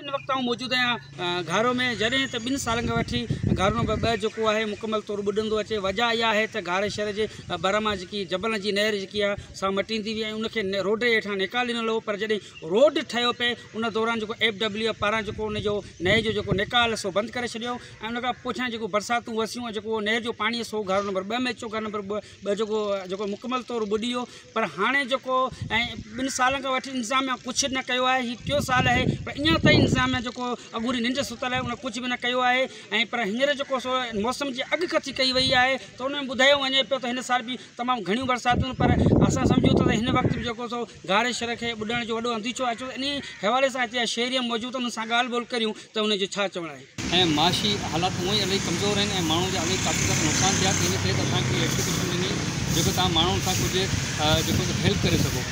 ان وقت آئون موجود آهيان گهارو ۾ جڏهن ته ٻن سالن کان وٺي گهارو نمبر ٻه جيڪو آهي مڪمل طور ٻڏندو اچي وجه اها آهي ته گهاري شهر جي ڀر مان جيڪي جبلن جي نهر جيڪي آهي سا مٽيندي وئي ۽ ان کي روڊ جي هيٺان نيڪال ڏنل هو پر جڏهن روڊ ٺهيو پئي ان دوران جيڪو ايف ڊبليو ايف پاران جيڪو ان جو نهر جو جيڪو نيڪال سو بند ڪري ڇڏيو ۽ ان کان پوء ڇا جيڪو برساتون وسيون ۽ جيڪو نهر جو پاڻي سو گهارو نمبر ٻه ۾ اچيو گهارو نمبر ٻه جيڪو جيڪو مڪمل طور ٻڏي ويو پر هاڻي جيڪو ۽ ٻن سالن کان وٺي انتظاميا ڪجهه نه ڪيو آهي هي ٽيو سال آهي پر اڃا تائين انتظاميا جيڪو اڳوري ننڊ ستل آهي ان ڪجهه به نه ڪيو آهي ۽ پر هينئر جيڪو سو موسم جي اڳ ڪٿي ڪئي وئي آهي ته ان ۾ ٻڌايو وڃي پيو ته هن سال به تمام گهڻيون برساتون پر اسان سمجهون ٿا ته هن وقت به جيڪو سو گهاري شھر کي ٻڏڻ جو وڏو انديشو اچيو انهي حوالي سان هتي جا شهري موجود آهن انهن سان ڳالهه ٻولهه ڪريون ته ان جو ڇا چوڻ آهي ۽ معاشي حالات هونء ئي الائي ڪمزور آهن ۽ ماڻهن جا الائي ڪافي سارا نقصان ٿيا ته ان ڪري ته اسان کي هي ايپليڪيشن ڏني جيڪو تهان ماڻهن سان ڪجهه جيڪو ته هيلپ ڪري سگهو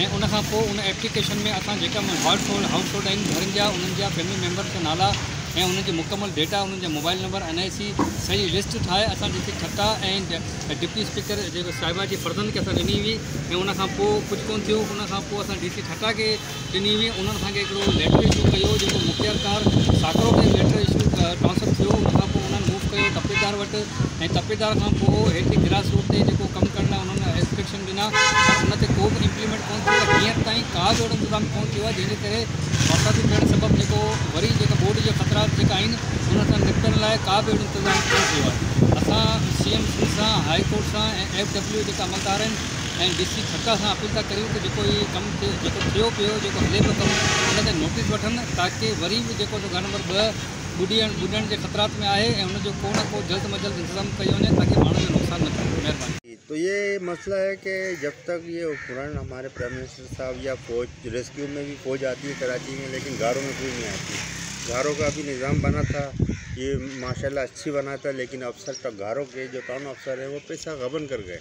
۽ ان کان پوء ان ايپليڪيشن ۾ اسان جيڪا مون هاٽ هولڊ هائوس هولڊ آهن گهرن جا انهن جا فيملي ميمبرس جا نالا ۽ انهن جي مڪمل ڊيٽا انهن جا mobile number N I C سڄي لسٽ ٺاهي اسان جيڪي ٺٽا ۽ ڊپٽي اسپيڪر جيڪو صاحبه جي فرزند کي اسان ڏني هئي ۽ ان کان پوء ڪجهه ڪون ٿيو ان کان پوء اسان ڊي سي ٺٽا کي ڏني هئي انهن اسان کي هڪڙو ليٽر اشو ڪيو جيڪو مختيار ڪار ساڪرو کي ليٽر اشو ٽرانسفر ٿيو ان کان پوء انهن موو ڪيو تپيدار وٽ ۽ تپيدار کان پوء هيٺين گراس روڊ تي جيڪو ڪم ڪرڻ لاء انهن اسٽرڪشن ڏنا پر ان تي ڪو به امپليمينٽ ڪونه ٿيو ۽ هينئر تائين ڪا به اهڙو انتظام ڪونه ٿيو آهي جنهن جي ڪري برساتون پيڻ سبب جيڪو وري جيڪا ٻوڏ جا خطرات جيڪا آهن انهن سان نپٽڻ لاء ڪا به اهڙو انتظام ڪونه ٿيو آهي اسان سي ايم سان هائي ڪورٽ سان ۽ ايف ڊبليو جيڪا عملدار آهن ۽ ڊي سي ٺٽا سان اپيل ٿا ڪريون ته جيڪو هي ڪم ٿي جيڪو ٿيو پيو جيڪو هلي پيو ڪم ان تي نوٽيس وٺن تاڪه وري به جيڪو گهر نمبر ٻه ٻڏي ٻڏڻ جي خطرات ۾ آهي ۽ ان جو ڪو نه ڪو جلد م جلد انتظام ڪيو وڃي تاڪه ماڻهن جو نقصان نه ٿئي مهرباني. تو يي مسئله هي ڪي جب تڪ يي اپڪرڻ هماري پرائم منسٽر صاحب يا فوج ريسڪيو مي بي فوج آتي هي ڪراچي مي ليڪن گهارو مي ڪوئي نهي آتي گهارو ڪا بي نظام بنا ٿا يي ماشاء الله اڇي بنا ٿا ليڪن افسر ڪا گهارو ڪي جو ٽاون افسر هي وو پيسا غبن ڪر گهي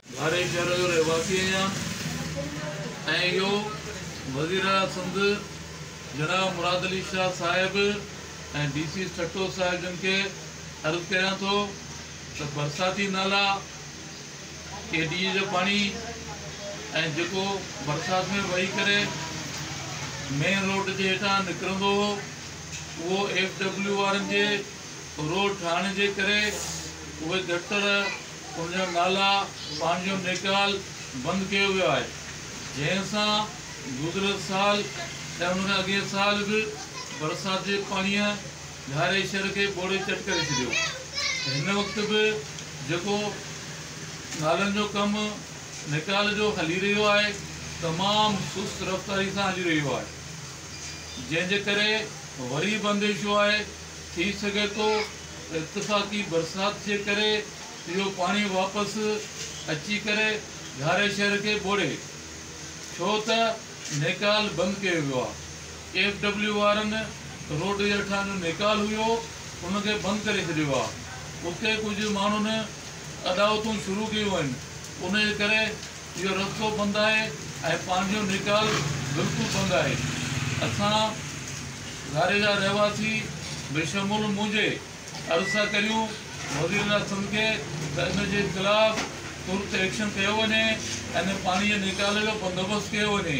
ڌاري شهر جو رهواسي آهيان ۽ اهو وزيراعليٰ سنڌ جناب مراد علي شاهه صاحب ۽ ڊي سي ٺٽو صاحب جن کي عرض ڪريان ٿو ته برساتي نالا ڪي ڊي اي جو پاڻي ۽ جيڪو برسات ۾ وهي ڪري مين روڊ جي هيٺان نڪرندو هو اهو ايف ڊبليو وارن جي روڊ ٺاهڻ جي ڪري اهي گٽر ان جا نالا پنهنجو نيڪال بند ڪيو ويو آهي جنهن سان گذريل سال ۽ ان کان اڳئين سال به برسات جي پاڻيء ڌاري شھر کي ٻوڙي چٽ ڪري ڇڏيو هن وقت به جيڪو نالن جو ڪم نيڪال جو هلي رهيو آهي تمام سست رفتاري سان هلي رهيو آهي جنهن جي ڪري وري به انديشو آهي ٿي سگهي ٿو ته اتفاقي برسات جي ڪري اهو پاڻي واپس اچي ڪري ڌاري شهر کي ٻوڙي ڇو ته نيڪال بند ڪيو ويو آهي ايف ڊبليو وارن روڊ جي هيٺان جو نيڪال هيو ان کي بند ڪري ڇڏيو آهي اتي ڪجهه ماڻهن اڏاوتون شروع ڪيون آهن ان جي ڪري اهو رستو بند آهي ۽ پنهنجو نيڪال بلڪل بند آهي. اسان ڌاري جا رهواسي بشمول منهنجي عرض سان ڪريون وزيراعليٰ سنڌ کي ته ان جي خلاف ترت ايڪشن ڪيو وڃي ۽ پاڻي جي نيڪال جو بندوبست ڪيو وڃي.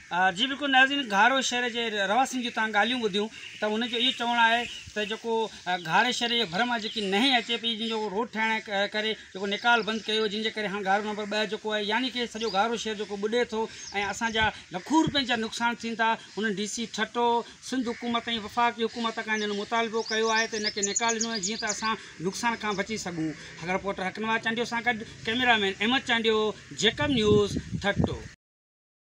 جي بلڪل ناظرين گهارو شهر جي رهواسين جي تهان ڳالهيون ٻڌيون ته ان جو اهو چوڻ آهي ته جيڪو گهاري شهر جي ڀر مان جيڪي نهين اچي پئي جن جو روڊ ٺاهڻ ڪري جيڪو نيڪال بند ڪيو جن جي ڪري هاڻ گهارو نمبر ٻه جيڪو آهي يعني ڪي سڄو گهارو شهر جيڪو ٻڏي ٿو ۽ اسان جا لکون روپين جا نقصان ٿين ٿا انهن ڊي سي ٺٽو سنڌ حڪومت ۽ وفاقي حڪومت کان انهن مطالبو ڪيو آهي ته ان کي نيڪال ڏنو وڃي جيئن ته اسان نقصان کان بچي سگهون هاڻ رپورٽر حقنواز چانڊيو سان گڏ camera man Ahmed Chandio Jacob news Thatta